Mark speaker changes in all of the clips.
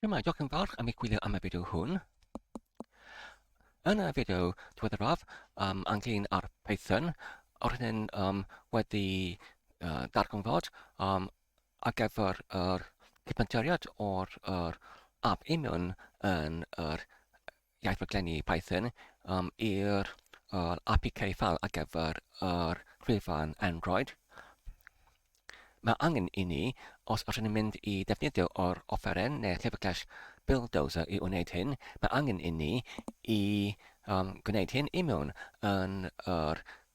Speaker 1: Shwmae, diolch yn fawr am i gwylio am y fideo hwn. Yn y fideo diweddaraf um, ynglyn â'r Python, o'r hyn um, wedi uh, darganfod um, ar gyfer yr cyplanteriad o'r, yr ab union yn yr iaith rhaglenni Python um, i'r uh, APK file ar gyfer yr gwefan Android. Mae angen i ni, os ydyn ni'n mynd i ddefnyddio o'r offeren neu llyfrgell Buildozer i wneud hyn, mae angen i ni i um, gwneud hyn i mewn yn yr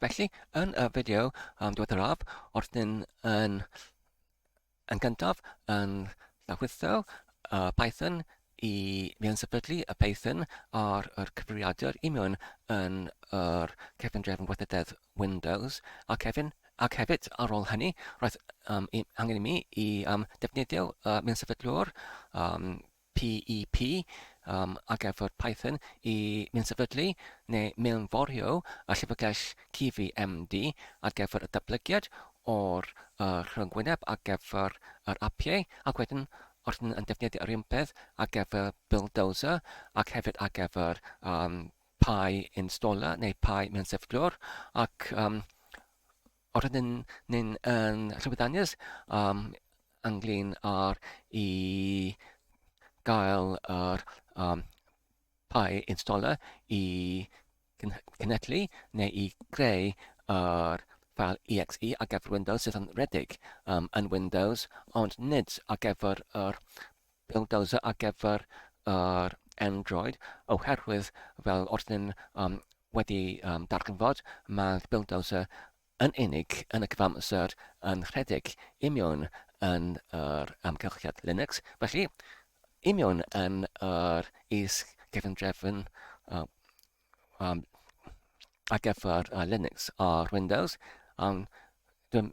Speaker 1: Felly, yn y fideo um, diweddaraf, wrth yn, yn, yn gyntaf yn llawrlwytho uh, Python i mi yn sefydlu y Python ar yr cyfrifiadur i mewn yn yr cefn drefn gweithrededd Windows ac hefyd, ac hefyd ar ôl hynny roedd um, i, angen i mi i um, defnyddio uh, mewn sefydlwr um, PEP, um, ac effaith Python i minsefydlu neu mewnforio y llyfrgell Civi MD ar gyfer y datblygiad o'r uh, rhyngwyneb ar gyfer yr apiau, ac wedyn os ydyn yn defnyddio yr un peth ar gyfer Buildozer ac hefyd ar gyfer um, Pi installer neu Pi mewn sefydlwr ac um, Os ydyn ni'n yn rhywyddannus um, ynglyn â'r i gael yr um, pai installer i cynhedlu neu i greu yr fel EXE ar gyfer Windows sydd yn redig um, yn Windows, ond nid ar gyfer yr Bulldozer ar gyfer yr Android oherwydd fel oeddwn i'n um, wedi um, darganfod, mae'r Bulldozer yn unig yn y cyfamser yn rhedeg imiwn yn yr amgylchiad Linux, felly imiwn yn yr is gefndrefn uh, um, ar gyfer uh, Linux ar Windows, um, dwi'n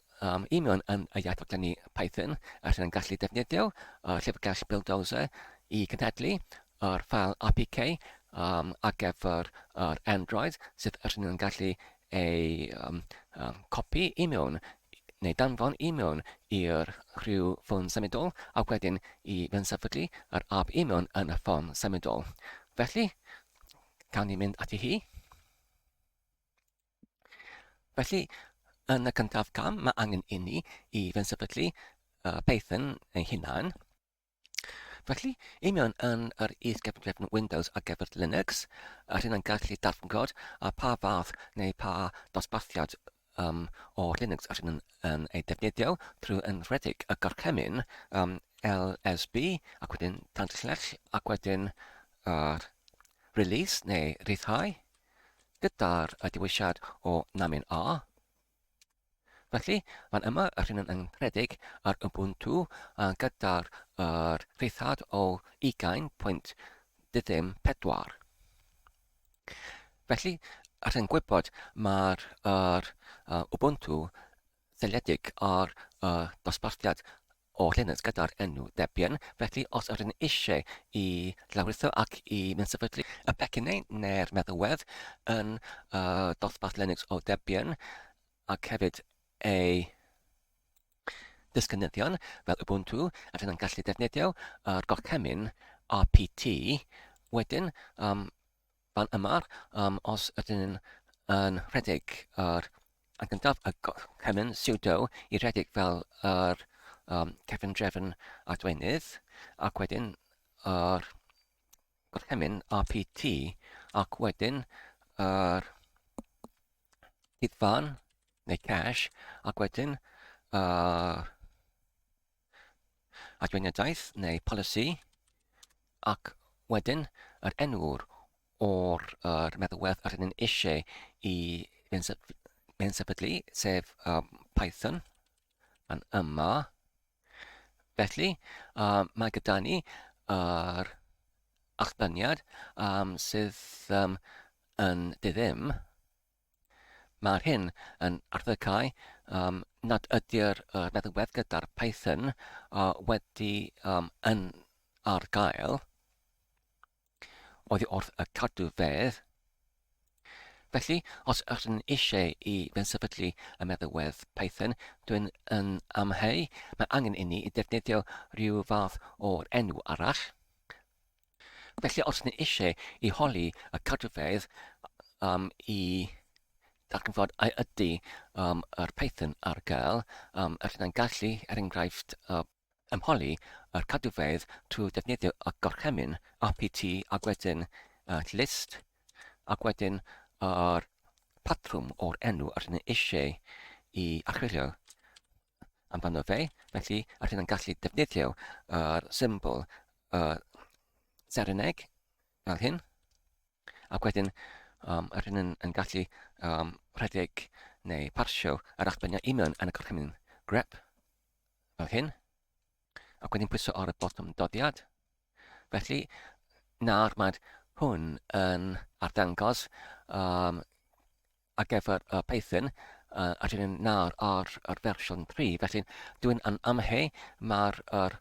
Speaker 1: Um, I mewn yn y iaith fod ni Python a rydyn yn gallu defnyddio uh, llyfrgell Buildozer i gynhedlu yr ffael APK um, ar gyfer yr Android sydd rydyn yn gallu ei um, um, copi i mewn neu danfon i mewn i'r rhyw ffôn symudol a wedyn i fensefydlu yr app i mewn yn y ffôn symudol. Felly, cawn ni mynd ati hi. Felly, yn y cyntaf cam, mae angen inni i fensefydlu uh, Python ei hunan. Felly, i mewn yn yr is-gefndrefn Windows ar gyfer Linux, a rhywun yn gallu darfod a pa fath neu pa dosbarthiad um, o Linux a rhywun yn ei defnyddio trwy enwedig y gorchymyn um, LSB ac wedyn tanslell ac wedyn uh, release neu rhyddhau. gyda'r dewisiad o Namin A. Felly, fan yma, yr hyn yn rhedeg ar Ubuntu a gyda'r er, rhithad o 20.34. Felly, yr hyn gwybod mae'r er, Ubuntu seiliedig ar y dosbarthiad o llinell gyda'r enw Debian, felly os yr yn eisiau i lawritho ac i mensefydlu y pecyn neu neu'r meddalwedd yn y dosbarth Linux o Debian ac hefyd ei disgynyddion fel Ubuntu, a dyna'n gallu defnyddio yr gorchymyn RPT wedyn um, Pan ymar, um, os ydyn yn rhedeg yr yn gyntaf y cymyn sudo i rhedeg fel yr um, cefn drefn adwenydd ac wedyn yr gorchymyn RPT ac wedyn yr hydfan neu cash ac wedyn yr adfyniadaeth neu polisi ac wedyn yr enw'r o'r yr meddwedd yr hynny'n eisiau i fe'n sefydlu, sef um, Python, yn yma. Felly, um, mae gyda ni yr uh, achbyniad um, sydd um, yn ddiddym Mae'r hyn yn arddegau um, nad ydy'r uh, meddalwedd gyda'r Python uh, wedi um, yn ar gael oddi wrth y cadw fedd. Felly, os ydych chi'n eisiau i fensefydlu y meddalwedd Python, dwi'n yn amheu, mae angen inni i ddefnyddio rhyw fath o'r enw arall. Felly os ni eisiau i holi y cadwfeydd um, i darganfod a ydy um, yr Python ar gael, um, er yna'n gallu, er enghraifft, uh, ymholi yr cadwfeydd trwy ddefnyddio y gorchymyn RPT ac wedyn uh, list ac wedyn yr patrwm o'r enw yr yna eisiau i archwilio. amdano fe, felly allwn yn gallu defnyddio yr symbol y sereneg fel hyn, ac wedyn um, allwn yn, yn gallu um, rhedeg neu parsio yr allbyniau union yn y gorchymyn grep fel hyn, ac wedyn pwyso ar y botwm dodiad. Felly, nawr mae hwn yn arddangos um, ar gyfer y Python uh, a dyn ni'n nawr ar yr fersiwn 3. Felly, dwi'n yn amhe mae'r er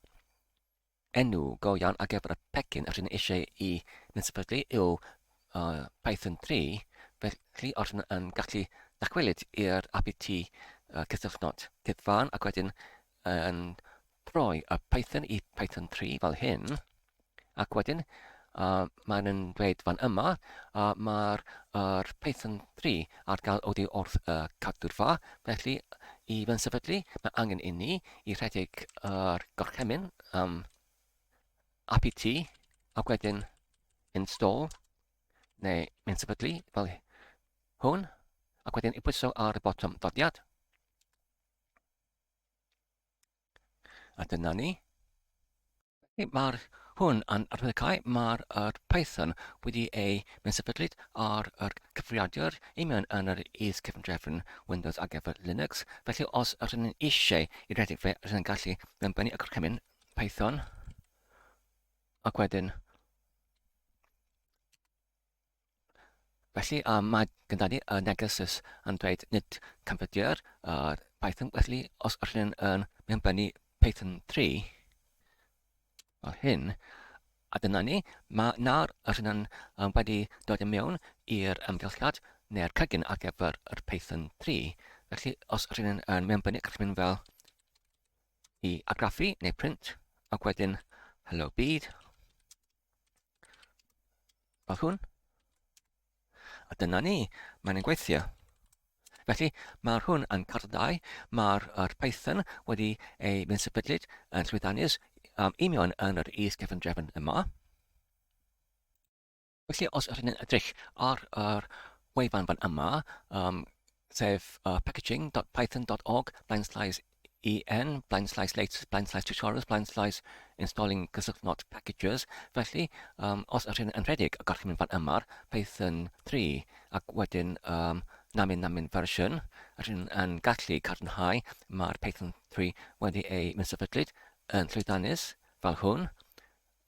Speaker 1: enw go iawn ar gyfer y pecyn a dyn ni eisiau i mynd sefydlu yw uh, Python 3. Felly, os yn, yn gallu dacwelyd i'r APT uh, cysylltnod cyfan ac wedyn yn troi y Python i Python 3 fel hyn, ac wedyn uh, mae'n yn dweud fan yma, uh, mae'r er Python 3 ar gael oeddi wrth y uh, cadwrfa, felly i fy sefydlu mae angen inni i rhedeg yr uh, gorchemyn um, apt ac wedyn install neu mynd sefydlu fel hwn ac wedyn i bwyso ar y botwm ddodiad. A dyna ni. Mae'r hwn yn arbenigau, mae'r er Python wedi ei mensafelyd ar yr cyfrifiadur i mewn yn yr is cefndrefn Windows ar gyfer Linux, felly os yr hyn eisiau i redeg fe, rydyn yn gallu benbennu y gorchymyn Python ac wedyn Felly, um, mae gyda ni y negesus yn dweud nid canfyddia'r uh, Python. Felly, os ydych chi'n yn mynd fyny Python 3, fel hyn, a dyna ni, mae nawr ydych chi'n um, wedi dod i mewn i'r ymgylchiad neu'r cygin ar gyfer yr Python 3. Felly, os ydych chi'n yn mynd fyny, gallwch mynd fel i agraffu neu print, ac wedyn hello byd, Fel hwn. A dyna ni, mae'n yn gweithio. Felly, mae'r hwn yn carddau, mae'r er Python wedi ei mynd sefydlyd yn llwyddanus um, union yn yr is cefn drefn yma. Felly, os ydych chi'n edrych ar yr wefan fan yma, um, sef uh, packaging.python.org, blaen slaes en, blaen slaes latest, blaen slaes tutorials, blaen slaes installing cysylltnod packages. Felly, um, os ydych chi'n rhedeg, y gallwch chi mynd fan yma'r Python 3, ac wedyn um, namin namin fersiwn, ydych chi'n gallu cadarnhau mae'r Python 3 wedi ei mynd sefydlyd yn llwyddiannus fel hwn.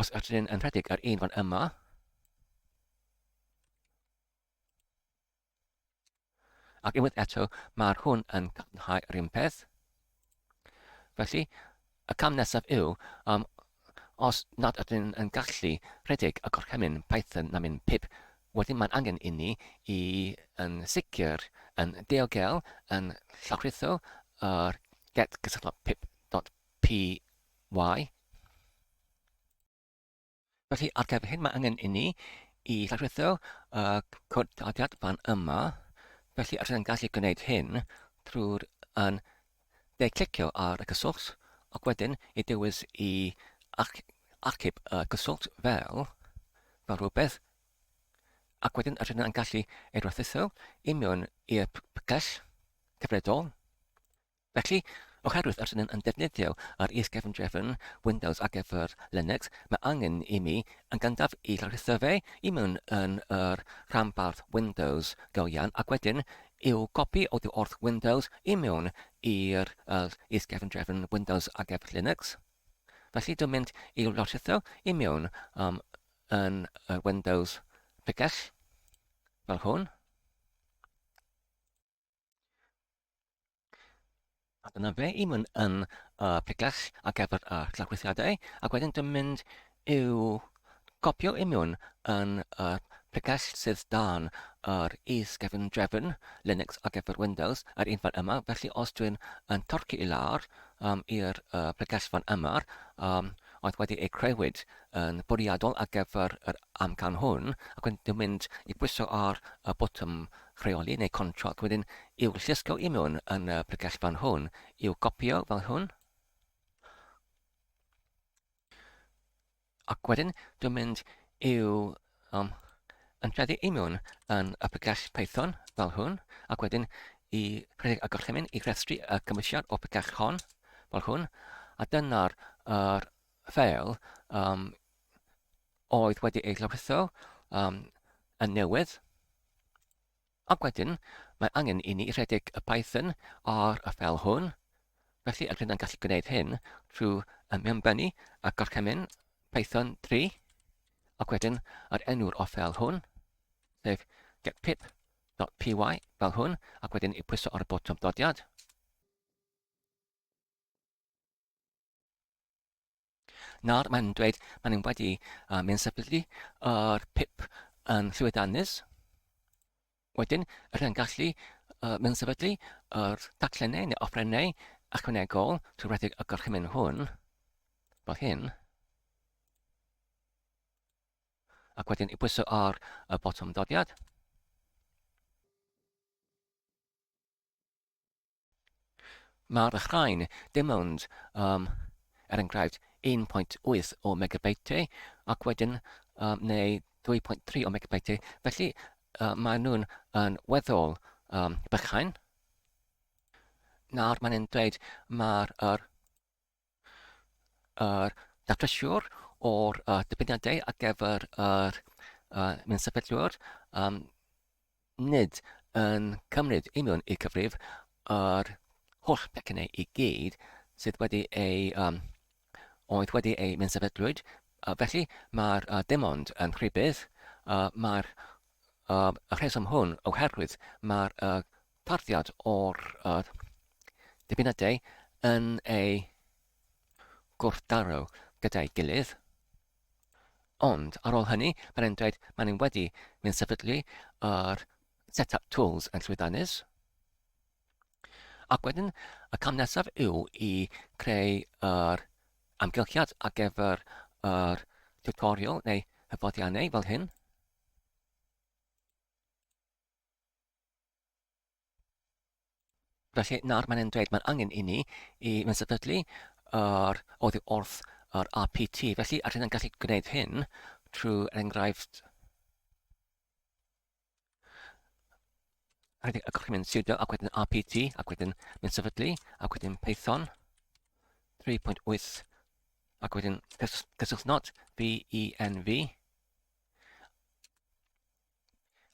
Speaker 1: Os ydyn yn rhedeg yr un fan yma, ac unwaith eto mae'r hwn yn cadarnhau yr un peth. Felly, y cam nesaf yw, um, os nad ydyn yn gallu rhedeg y gorchymyn Python na mynd pip, wedyn mae'n angen i ni i yn sicr yn diogel yn llawrytho yr get gysylltog pip dot PY. Felly, ar gyfer hyn, mae angen i ni i ddefnyddio uh, cod daliad fan yma. Felly, os ydym yn gallu gwneud hyn drwy'r yn de clicio ar y cyswllt, ac wedyn i dewis i ac achub y cyswllt fel, fel rhywbeth, ac wedyn rydyn yn gallu ei rwthitho i mewn i'r pgell cyfredol. Felly, oherwydd yr rydym yn defnyddio yr is-gefndrefn Windows ar gyfer Linux, mae angen i mi, yn gyntaf, ei lawrlwytho fe i mewn yn yr rhanbarth Windows go iawn ac wedyn i'w gopi oddi wrth Windows i mewn i'r yr is-gefndrefn Windows ar gyfer Linux. Felly, dwi'n mynd i'w lawrlwytho i mewn um, yn yr Windows pregell, fel hwn. A dyna fe i mynd yn uh, piclach ac efo'r uh, llawchwythiadau, ac wedyn dwi'n mynd i'w gopio i mewn yn y uh, picell sydd dan yr is gefn drefn Linux ac efo'r Windows, yr un fan yma. Felly os dwi'n yn torci i lawr um, i'r uh, picell fan yma, um, oedd wedi ei creuwyd yn bwriadol ar gyfer yr amcan hwn, ac wedyn dwi'n mynd i bwyso ar y botwm rheoli neu contract wedyn i'w llusgo i mewn yn y pregethpan hwn, i'w gopïo fel hwn. Ac wedyn dwi'n mynd i'w um, ymdreddu i mewn yn y pregeth Python fel hwn, ac wedyn i rhedeg y gorchymyn i rhestru y cymwysiad o pregeth hon fel hwn, a dyna'r er, ffeil um, oedd wedi ei lawrlwytho um, yn newydd. Ac wedyn, mae angen i ni rhedeg y Python ar y fel hwn, felly yr hyn yn gallu gwneud hyn trwy ymbennu a gorchymyn Python 3, ac wedyn yr enw'r o fel hwn, sef getpip.py fel hwn, ac wedyn i pwyso ar y botwm dodiad. Nawr mae'n dweud maen nhw wedi uh, mynd sefydlu yr uh, pip yn Llywedanus. Wedyn, yr hyn gallu uh, mynd sefydlu yr uh, taclenau neu ofrennau ychwanegol trwy redeg y gorchymyn hwn, fel hyn. Ac wedyn i bwyso ar y botwm dodiad. Mae'r rhain dim ond um, er enghraifft 1.8 o megabyteau ac wedyn um, neu 2.3 o megabyteau, felly uh, maen nhw'n yn weddol um, bychain. Nawr mae'n dweud mae'r er, yr datrysiwr o'r uh, dybyniadau ar gyfer yr uh, mynd sefydlwyr um, nid yn cymryd union i cyfrif yr holl becynnau i gyd sydd wedi ei um, oedd wedi ei mynd sefydlwyd. Uh, felly mae'r uh, dim ond yn rhybydd, uh, mae'r uh, rheswm hwn oherwydd mae'r uh, tarddiad o'r uh, dibynadau yn ei gwrthdaro gyda'i gilydd. Ond ar ôl hynny, mae'n e'n dweud mae'n e'n wedi mynd sefydlu yr set-up tools yn llwyddanus. Ac wedyn, y cam nesaf yw i creu yr amgylchiad ar gyfer yr tutorial neu hyfoddiannau fel hyn. Felly, nawr mae'n dweud mae'n angen i ni i fynd sefydlu yr oddi wrth yr RPT. Felly, allwn ni'n gallu gwneud hyn trwy er enghraifft rhaid y gorchymyn sudo ac wedyn RPT ac wedyn mynd sefydlu ac wedyn Python 3.8 ac wedyn cyswlltnod VENV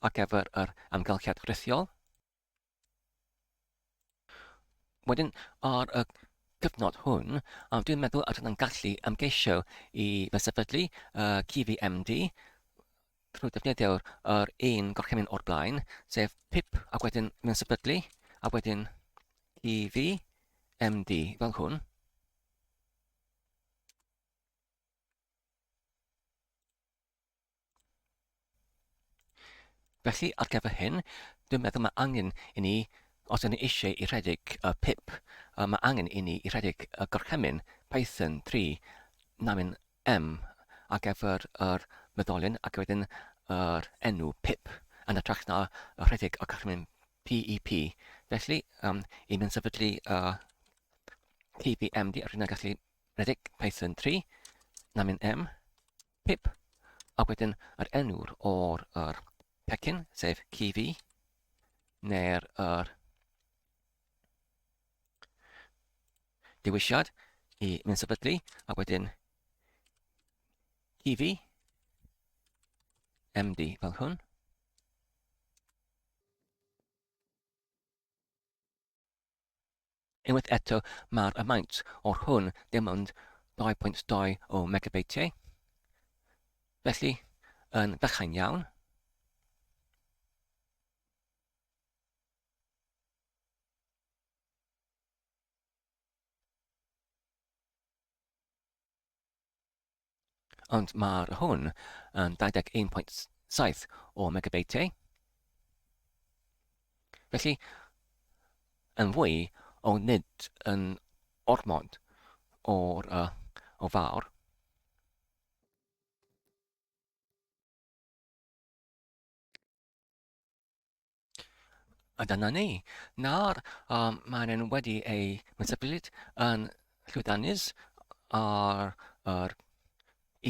Speaker 1: ar gyfer yr amgylchedd rhithiol. Wedyn, ar y cyfnod hwn, a dwi'n meddwl a dyna'n gallu ymgeisio i fesefydlu uh, CVMD trwy defnyddio'r er un gorchymyn o'r blaen, sef PIP a wedyn mewn sefydlu, a wedyn CV, MD, fel hwn. Felly, ar gyfer hyn, dwi'n meddwl mae angen i ni, os ydyn ni eisiau i rhedeg y pip, mae angen i ni i rhedeg y gorchymyn Python 3 namin m ar gyfer yr meddalyn ac wedyn yr enw pip, yn hytrach na rhedeg y gorchymyn PEP. Felly, um, i mi yn sefydlu uh, PPMD, rydyn ni'n gallu rhedeg Python 3 namin m pip, ac wedyn yr enw'r o'r yr pecyn, sef CV, neu'r yr dewisiad i mynd sefydlu, ac wedyn CV, MD fel hwn. Unwaith eto, mae'r amount o'r hwn dim ond 2.2 o megabeitiau, felly yn fychain iawn. Ond mae'r hwn yn 21.7 o megabeitiau. Felly, yn fwy o nid yn ormod o'r uh, o fawr. A dyna ni. Nawr, um, maen nhw wedi eu metabylid yn llwyddiannus ar yr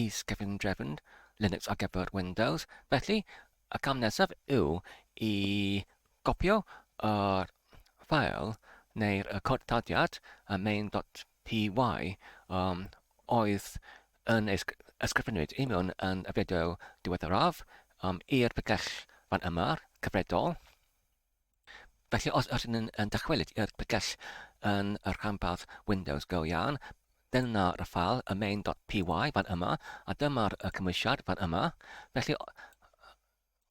Speaker 1: is gefn drefn Linux ar gyfer Windows. Felly, y cam nesaf yw i gopio yr ffael neu'r cod tadiad y main.py PY, Yym, oedd yn ei ysgrifennuyd i mewn yn y fideo diweddaraf, yym, i'r bregell fan yma, cyfredol. Felly os ydyn ni'n yn dychwelyd i'r bregell yn y rhanbarth Windows go iawn, dyna y ffael, y main.py fan yma, a dyma'r y cymwysiad fan yma. Felly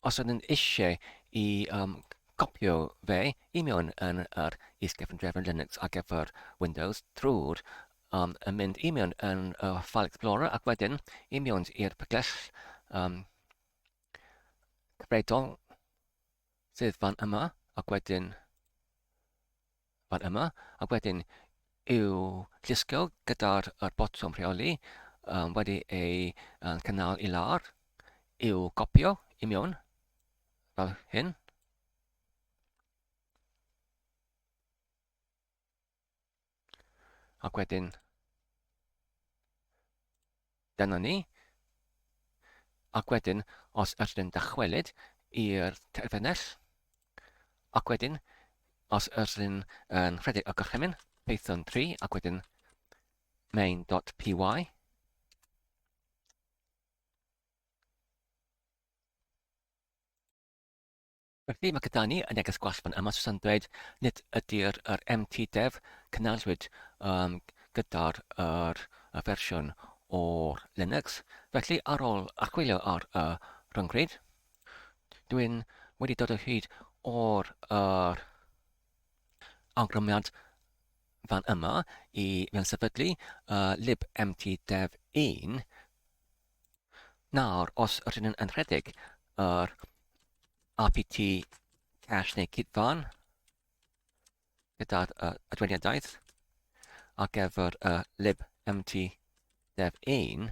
Speaker 1: Os ydyn eisiau i um, copio fe i mewn yn yr is-gefndrefn Linux ar gyfer Windows drwy'r um, yn mynd i mewn yn y uh, File Explorer ac wedyn i mewn i'r pygell um, cyfredol sydd fan yma ac wedyn fan yma, a wedyn i'w llusgo gyda'r yr botwm rheoli um, wedi ei um, cynnal i lawr, i'w gopio i mewn, fel hyn. Ac wedyn Dyna ni. Ac wedyn, os ydyn dychwelyd i'r terfynell, ac wedyn, os ydyn yn rhedeg y gorchymyn, Python 3, ac wedyn main.py, Felly, mae gyda ni y neges gwall fan yma, Susan dweud, nid ydy'r yr MT Dev cynnalwyd um, gyda'r yr, y fersiwn o'r Linux. Felly, ar ôl archwilio ar y rhyngrwyd, dwi'n wedi dod o hyd o'r yr awgrymiad fan yma i mewn sefydlu uh, libmtdev1 Nawr, os rydyn yn rhedeg yr RPT cash neu cydfan gyda'r uh, adwediadaeth ar gyfer y uh, lib empty dev 1,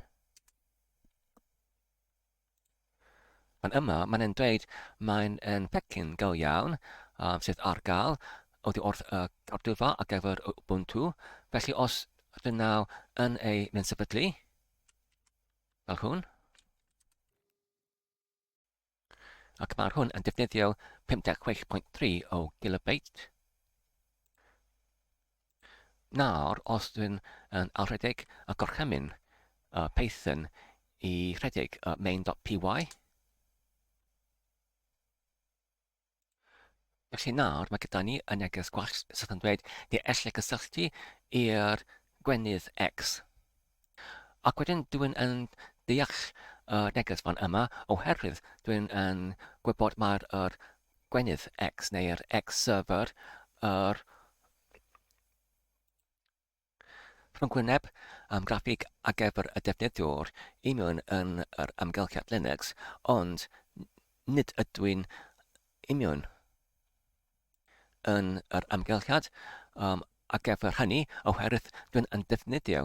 Speaker 1: Fan yma, mae'n e'n dweud mae'n yn pecyn go iawn um, sydd ar gael oddi wrth y uh, cardylfa ar gyfer Ubuntu. Felly os rydyn naw yn ei mynd sefydlu, Fel hwn. Ac mae'r hwn yn defnyddio 56.3 o gilobeit. Nawr, os dwi'n yn alredeg y gorchymyn uh, Python i rhedeg uh, main.py, Felly nawr mae gyda ni y neges gwallt sydd yn dweud ni ellai gysylltu i'r gwenith X. Ac wedyn dwi'n yn deall y neges fan yma oherwydd dwi'n yn gwybod mae'r er gwenith X neu'r X server yr er Rhyngwyneb, am graffig a gefr y defnyddiwr i mewn yn yr amgylchiad Linux, ond nid ydw i'n i mewn yn yr amgylchiad um, a gefr hynny oherwydd dwi'n yn defnyddio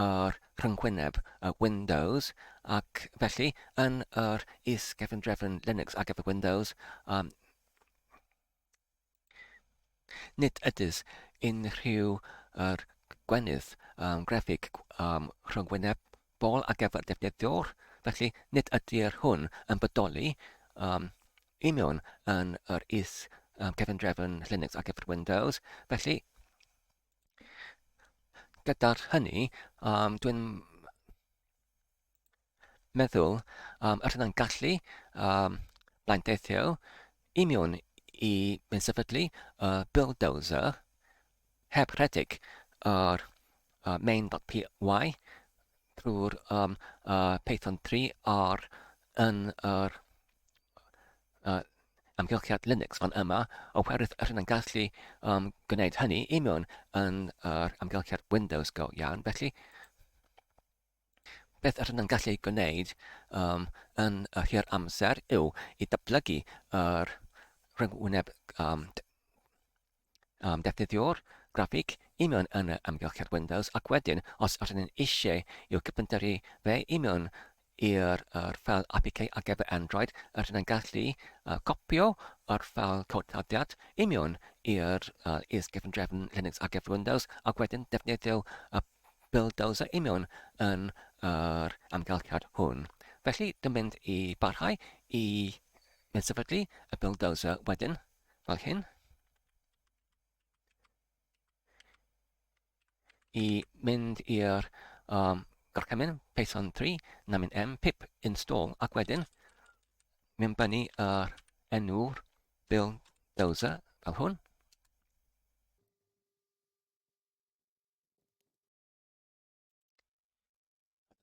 Speaker 1: yr rhyngwyneb uh, Windows ac felly yn yr is-gefndrefn Linux a gefr Windows um, Nid oes unrhyw gynnydd yn graffig rhyngwyneb bol ar gyfer defnyddiwr, felly nid ydy'r hwn yn bodoli i mewn yn yr is-gefndrefn Linux ar gyfer Windows, felly gyda hynny dwi'n meddwl am yr hunan gallu um, blaenteithio i mewn i mewn sefydlu y uh, bulldozer heb rhedeg yr uh, main.py drwy'r um, uh, Python 3 ar yn yr uh, amgylchiad Linux fan yma, oherwydd yr hyn yn gallu um, gwneud hynny i mewn yn yr amgylchiad Windows go iawn. Felly, Beth yr ydym yn gallu ei gwneud um, yn yr hir amser yw i datblygu yr rhyngwyneb um, um, defnyddio'r graffig i mewn yn y amgylchiad Windows ac wedyn os yr ydym eisiau i'w cyfyntyru fe i mewn i'r er ffel APK ar gyfer Android, yr ydym yn gallu uh, copio yr ffel cod tadiad i mewn i'r uh, is gefn drefn Linux ar gyfer Windows ac wedyn defnyddio y Bulldozer union yn yr amgylchiad hwn. Felly, dwi'n mynd i barhau i sefydlu y bulldozer wedyn, fel hyn. I mynd i'r um, gorchymyn Python 3, na mynd M, pip install, ac wedyn mynd byny yr enw'r bulldozer fel hwn.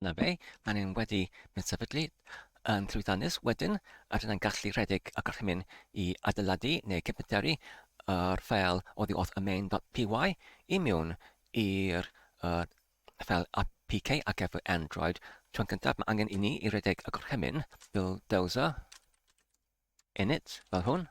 Speaker 1: Na fe, mae ni'n wedi mynd sefydlu yn llwyddiannus wedyn a dyna'n gallu rhedeg y gorchymyn i adeiladu neu cefnteru yr ffeil oddi wrth y main.py i mewn i'r uh, ffeil APK ar gyfer Android. Tron gyntaf mae angen i ni i redeg y gorchymyn bulldozer init fel hwn.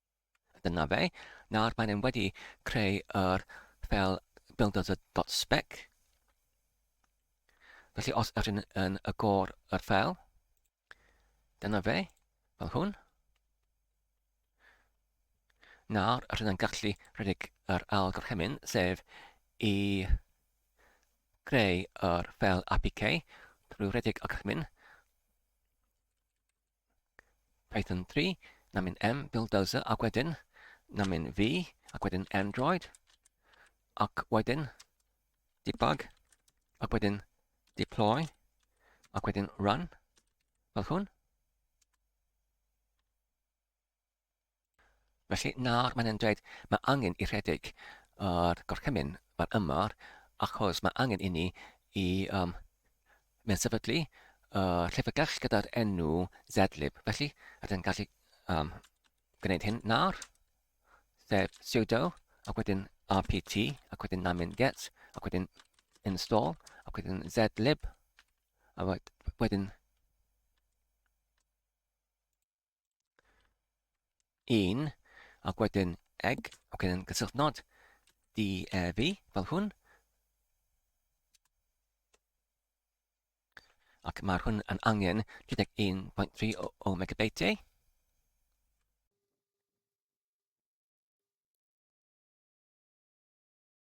Speaker 1: Dyna fe. Nawr mae'n e'n wedi creu yr fel builder.spec. Felly os ydych chi'n yn y gor yr fel, dyna fe, fel hwn. Nawr, ydych chi'n gallu rhedeg yr ail gorchymyn, sef i greu yr fel APK drwy rhedeg y gorchymyn Python 3, na mynd M, build dozer, ac wedyn, na mynd V, ac wedyn Android, ac wedyn debug, ac wedyn deploy, ac wedyn run, fel hwn. Felly, nawr mae'n dweud, mae angen i rhedeg yr gorchymyn fan yma, achos mae angen inni i um, mewn sefydlu uh, llyfrgell gyda'r enw zlib. Felly, rydyn gallu um, gwneud hyn nawr, sef sudo, ac wedyn rpt, ac wedyn namin get, ac wedyn install, ac wedyn zlib, a wedyn un, ac wedyn eg, ac wedyn gysylltu nod DEV fel hwn. Ac mae'r hwn yn angen 31.3 o, o megabyteau.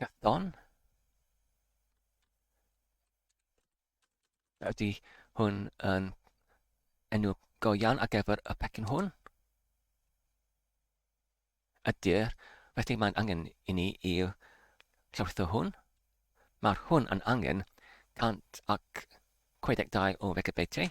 Speaker 1: Cython. Ydy hwn yn enw go iawn ar gyfer y pecyn hwn? Ydy'r, felly mae'n angen i ni i llawrlwytho hwn. Mae'r hwn yn angen 162 o Wikipedia.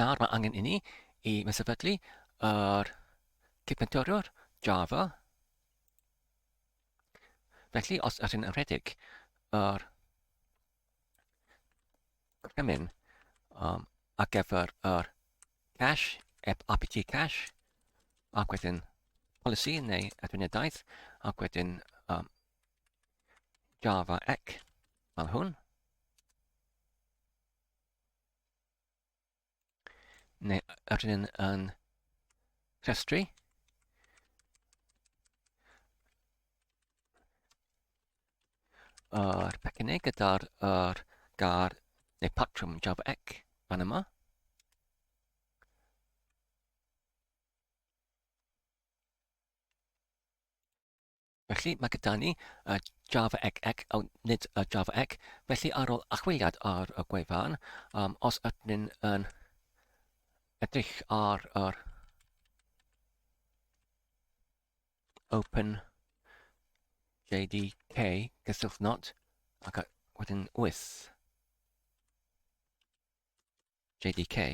Speaker 1: Nawr mae angen inni i mi sefydlu yr cydfentoriwr Java. Felly, os ydych chi'n rhedeg yr cyfrymyn um, ar gyfer yr cash, apt cash, ac wedyn polisi neu adfyniadaeth, ac wedyn um, Java Ec fel hwn. neu yr un yn rhestru. Yr pecynau gyda'r er gar neu patrwm Java ec fan yma. Felly, mae gyda ni y Java egg egg, oh, nid y Java egg. Felly, ar ôl achwiliad ar y gwefan, um, os ydyn ni'n yn edrych ar yr Open JDK gyswllt not ac wedyn wyth JDK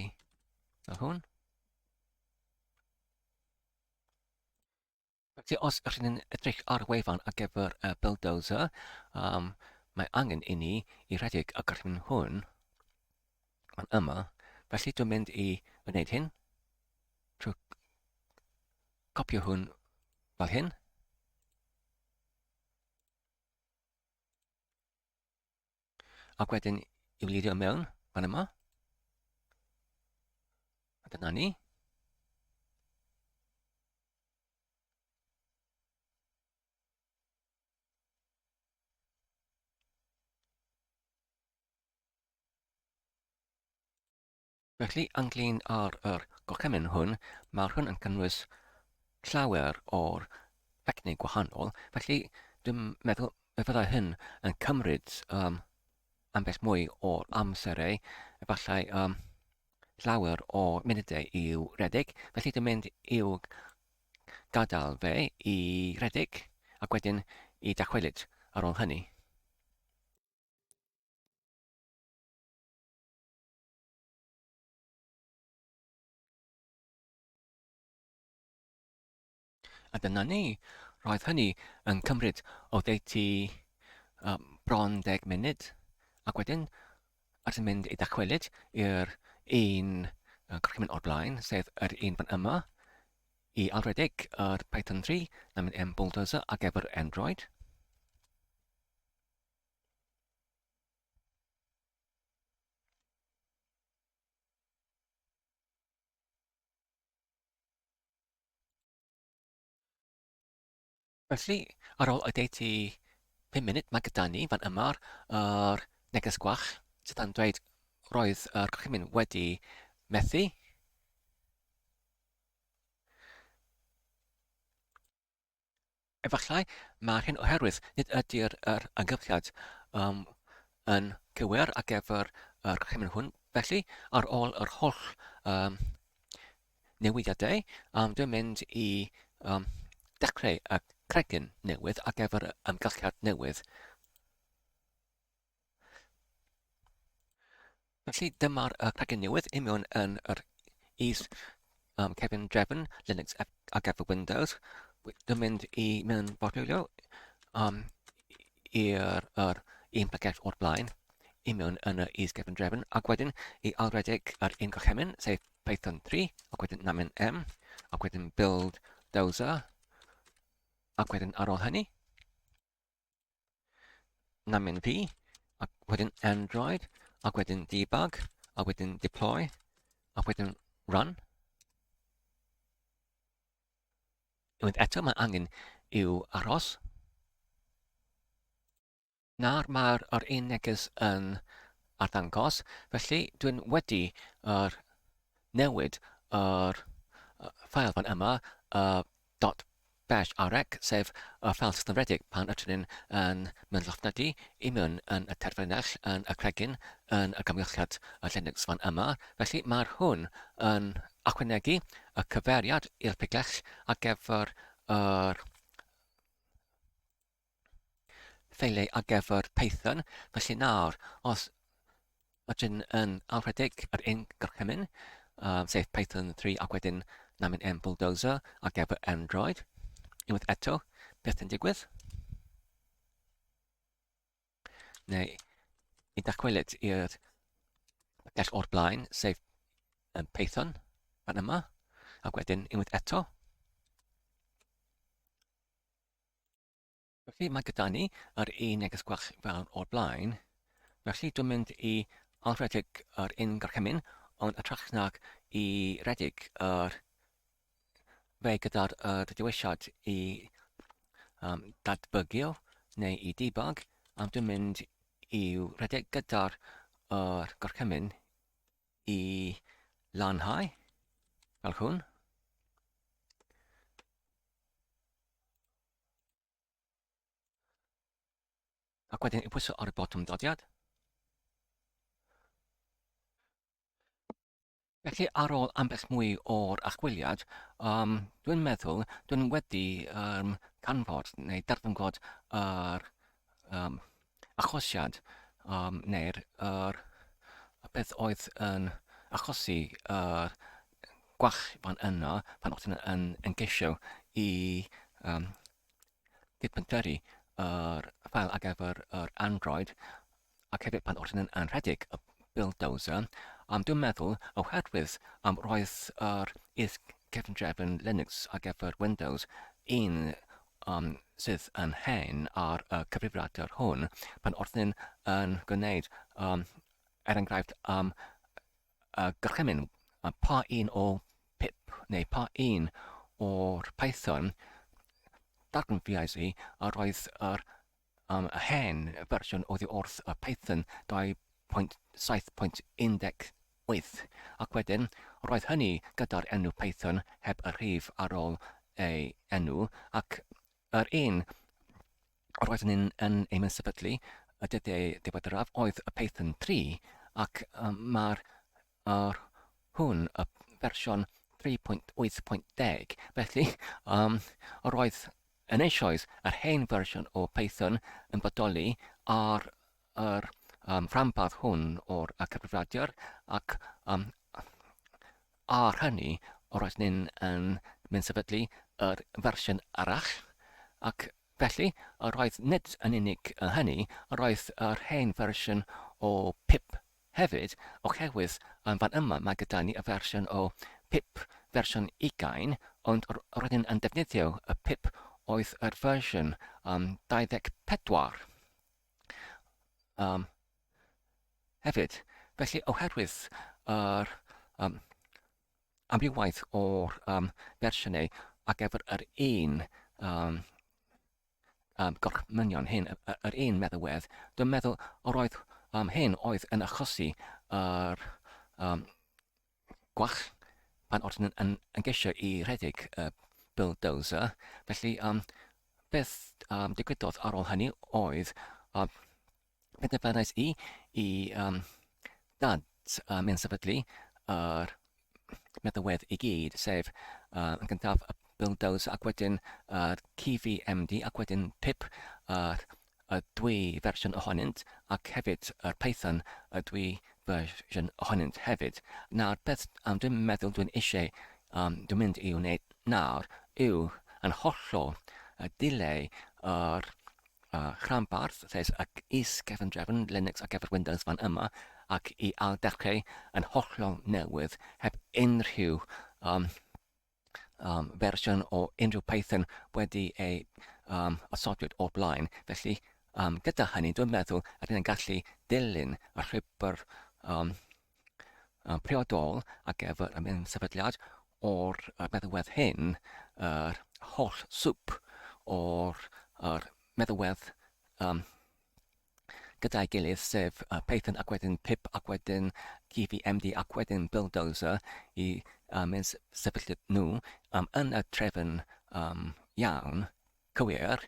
Speaker 1: fel hwn. Felly os ydych chi'n edrych ar y wefan ar gyfer y bulldozer, um, mae angen i ni i redeg y grym hwn yn yma. Felly dwi'n mynd i wneud hyn trwy copio hwn fel hyn. Ac wedyn i wlirio mewn fan yma. A dyna ni. Felly, ynglŷn â'r yr gorchymyn hwn, mae'r hwn yn cynnwys llawer o'r ffecnau gwahanol, felly dwi'n meddwl y byddai hyn yn cymryd um, ambell mwy o amserau, efallai um, llawer o munudau i'w redeg, felly dwi'n mynd i'w gadael fe i redeg ac wedyn i dachwelyd ar ôl hynny. A dyna ni. Roedd hynny yn cymryd o ddeutu um, bron deg munud. Ac wedyn, at yn mynd i dacwelyd i'r un gorchymyn o'r blaen, sef yr un fan yma, i alwedig yr Python 3, na mynd yn Bulldozer ar gyfer Android. Felly, ar ôl oddeutu pum munud, mae gyda ni fan yma yr neges gwach sydd yn dweud roedd yr gorchymyn wedi methu. Efallai mai'r hyn oherwydd nid ydy'r yr ymgylchiad um, yn cywir ar gyfer yr hymweliad hwn. Felly, ar ôl yr holl um, newidiadau, um, dwi'n mynd i um, dechrau y cregyn newydd ar gyfer y ymgylchiad newydd. Felly dyma'r uh, plugin newydd i mewn yn yr is um, Kevin Drefn Linux ar gyfer Windows. Dwi'n mynd i mewn fodlywio um, i'r er, un plygell o'r blaen i mewn yn yr is Kevin Drefn ac wedyn i alwedig yr un gorchymyn sef Python 3 ac wedyn namen M ac wedyn build dozer ac wedyn ar ôl hynny Na mynd i, a wedyn Android, a wedyn debug, a wedyn deploy, a wedyn run. Unwaith eto mae angen i'w aros. Nawr mae'r er un neges yn arddangos, felly dwi'n wedi er, newid yr er, ffael fan yma, uh, Dot bash ar rec, sef y ffeil tystadfedig pan ydyn ni yn mynd llofnodi i mewn yn y terfynell yn y cregyn yn y gamgylchiad Linux fan yma, felly mae hwn yn ychwanegu y cyfeiriad i'r pigell ar gyfer yr ffeiliau ar gyfer Python. Felly nawr, os ydyn yn awredig ar ein gorchymyn, um, sef Python 3 ac wedyn na mynd yn Bulldozer ar gyfer Android, unwaith eto, beth yn digwydd? Neu i dacwelyd i'r gell o'r blaen, sef um, Python, fan yma, ac wedyn unwaith eto, Felly mae gyda ni yr un neges gwell fel o'r blaen. Felly dwi'n mynd i alwredig yr un gorchymyn, ond y trach nag i redeg yr fe gyda'r uh, dywesiad i um, datbygio neu i debug, am dwi'n mynd i'w redeg gyda'r uh, gorchymyn i lanhau, fel hwn. Ac wedyn i pwyso ar y botwm dodiad. Felly ar ôl ambell mwy o'r achwiliad, um, dwi'n meddwl dwi'n wedi um, canfod neu darganfod yr um, achosiad um, neu'r er, y peth oedd yn achosi yr gwach fan yna pan o'ch chi'n yn, yn geisio i um, dipyntyru yr ffael ar gyfer yr Android ac hefyd pan o'ch chi'n yn, yn rhedeg y bulldozer um, dwi'n meddwl oherwydd um, roedd yr is cefndrefn Linux ar gyfer Windows un um, sydd yn hen ar y cyfrifiadur hwn, pan wrth yn gwneud, um, er enghraifft, um, y gorchymyn, a pa un o pip neu pa un o'r Python, darganfuais i a roedd yr am yr hen fersiwn oddi wrth y Python 2.7.18 ac wedyn roedd hynny gyda'r enw Python heb y rhif ar ôl ei enw ac yr un roeddwn i'n yn ei mysefydlu y dyddiau diweddaraf oedd y Python 3 ac um, mae'r Ar hwn y fersiwn 3.8.10, felly, um, yr oedd yn eisoes yr hen fersiwn o Python yn bodoli ar yr um, rhanbarth hwn o'r cyfrifiadur ac um, ar hynny yr oes ni'n yn mynd sefydlu yr fersiwn arall ac felly yr oedd nid yn unig hynny yr oedd yr hen fersiwn o pip Hefyd, oherwydd yn fan yma mae gyda ni y fersiwn o pip fersiwn ugain, ond roeddwn yn defnyddio y pip oedd yr fersiwn um, 24. Um, hefyd, felly oherwydd yr um, amrywaeth o'r um, fersiynau ar gyfer yr un um, Ym gorchmynion hyn, yr un meddywedd, dwi'n meddwl yr oedd um, hyn oedd yn achosi yr um, gwach pan oedd yn, yn, yn gesio i redeg y uh, bulldozer. Felly, um, beth um, digwyddodd ar ôl hynny oedd um, penderfynais i i um, dad um, yn sefydlu yr meddywedd i gyd, sef uh, yn gyntaf y bulldoze ac wedyn yr uh, CVMD ac wedyn pip yr uh, y dwy fersiwn ohonynt ac hefyd yr Python y dwy fersiwn ohonynt hefyd. Nawr, beth um, dwi'n meddwl dwi'n eisiau, um, dwi'n mynd i wneud nawr yw yn hollol y dileu yr a rhanbarth lles ac is-gefndrefn Linux ar gyfer Windows fan yma ac i ailddechrau yn hollol newydd heb unrhyw um, um, fersiwn o unrhyw Python wedi ei um, osodwyd o'r blaen. Felly, um, gyda hynny, dwi'n meddwl rydyn ni'n gallu dilyn y rhybr um, priodol ar gyfer y mewn sefydliad o'r meddywedd hyn, yr holl swp o'r yr meddywedd um, gyda'i gilydd, sef uh, Python ac wedyn pip ac wedyn GVMD ac wedyn Buildozer i uh, mynd sefyllfa nhw um, yn y trefn um, iawn, cywir,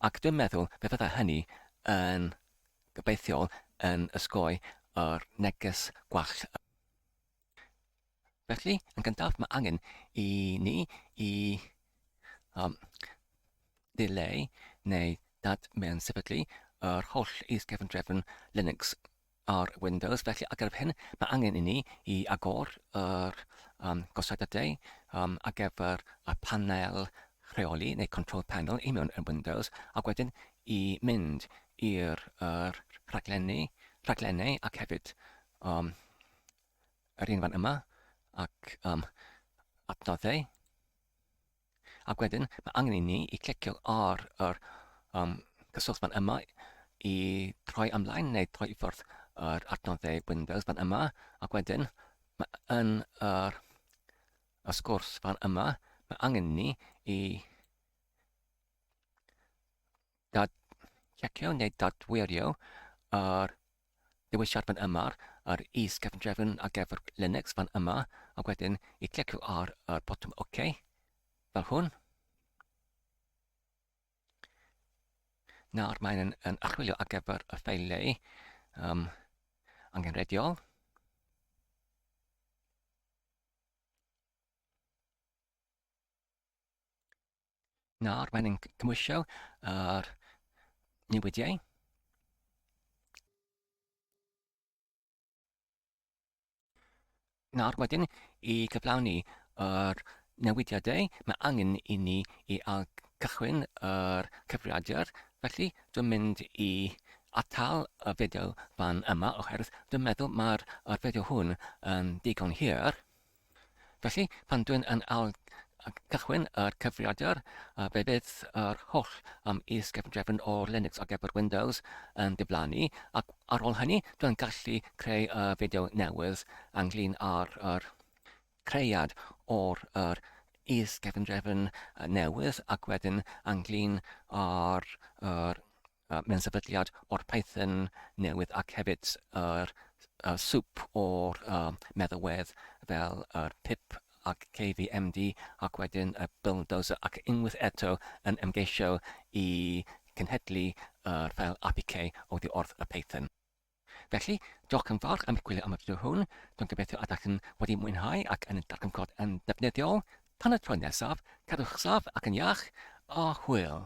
Speaker 1: ac dwi'n meddwl fe fydda hynny yn Gobeithio yn osgoi yr neges gwallt yma. Felly, yn gyntaf, mae angen i ni i um, ddileu neu dad mewn sefydlu yr holl is-gefndrefn Linux ar Windows. Felly, ar gyfer hyn, mae angen i ni i agor yr um, gosodadau um, ar gyfer y panel rheoli neu control panel i mewn yn Windows, ac wedyn i mynd i'r yr rhaglenni rhaglennau ac hefyd um, yr un fan yma ac um, adnoddau. Ac wedyn mae angen i ni i clicio ar yr um, cyswllt fan yma i troi ymlaen neu troi i ffwrdd yr adnoddau Windows fan yma ac wedyn mae yn yr y sgwrs fan yma mae angen ni i dad, checio neu dadwirio ar dewisiad fan yma, ar is-gefndrefn ar gyfer Linux fan yma, a wedyn i clicio ar y botwm OK, fel hwn. Nawr mae'n yn archwilio ar gyfer y ffeiliau um, angenrheidiol. Nawr, mae'n ein cymwysio ar newidiau. Nawr wedyn, i gyflawni yr newidiadau, mae angen i ni i cychwyn yr cyfrifiadur. Felly, dwi'n mynd i atal y fideo fan yma, oherwydd dwi'n meddwl mae'r fideo hwn yn digon hir. Felly, pan dwi'n yn ail gychwyn yr cyfrifiadur, fe fydd yr holl um, is-gefndrefn o Linux ar gyfer Windows yn diflannu, ac ar ôl hynny, dwi'n gallu creu y fideo newydd ynglyn â'r er, creiad o'r er, is-gefndrefn newydd, ac wedyn ynglyn â'r er, Mae'n sefydliad o'r Python newydd ac hefyd yr swp o'r meddalwedd fel yr pip ac KVMD ac wedyn y bulldozer ac unwaith eto yn ymgeisio i cenhedlu yr ffeil apk oddi wrth y Python. Felly, diolch yn fawr am gwylio am y fideo hwn, dwi'n gobeithio y dach yn wedi mwynhau ac yn darganfod yn ddefnyddiol, tan y tro nesaf, cadwch saf ac yn iach, a hwyl!